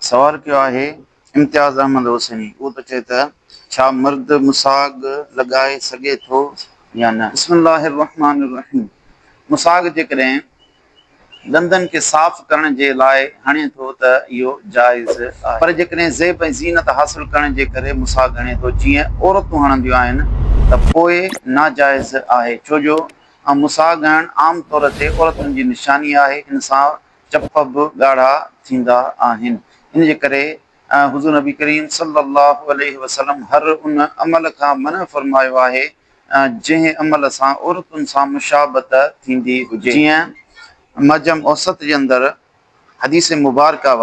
سوال ڪيو آهي امتياز احمد حسيني، اهو ته چئي ته ڇا مرد مساڳ لڳائي سگهي ٿو يا نه؟ بسم الله الرحمٰن الرحيم مساڳ جيڪڏهن ڏندن کي صاف ڪرڻ جي لاء هڻي ٿو ته اهو جائز آهي پر جيڪڏهن زيب ۽ زينت حاصل ڪرڻ جي ڪري مساڳ هڻي ٿو جيئن عورتون هڻنديون آهن ته پوء ناجائز آهي ڇو جو مساڳ هڻڻ عام طور تي عورتن جي نشاني آهي ان سان چپ به ڳاڙها ٿيندا آهن. ان جي ڪري حضور نبي ڪريم صلي الله عليه وسلم هر ان عمل کان منع فرمايو آهي جنهن عمل سان عورتن سان مشابهت ٿيندي هجي. جيئن معجم اوسط جي اندر حديث مبارڪه و.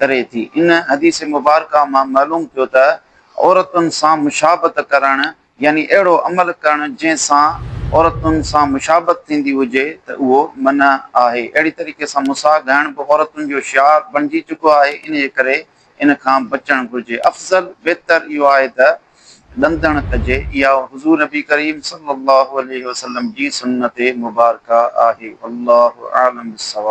ڪري ٿي. ان حديث مبارڪه مان معلوم ٿيو ته عورتن سان مشابهت ڪرڻ يعني اهڙو عمل ڪرڻ جنهن سان عورتن سان مشابهت ٿيندي هجي ته اهو منع آهي. اهڙي طريقي سان مساء گهائڻ به عورتن جو شعار بڻجي چڪو آهي انهيء ڪري ان کان بچڻ گهرجي. افضل، بهتر، اهو آهي ته ڏندڻ ڪجي. اها حضور نبي ڪريم صلي الله عليه وسلم جي سنت مبارڪه آهي. والله اعلم بالصواب.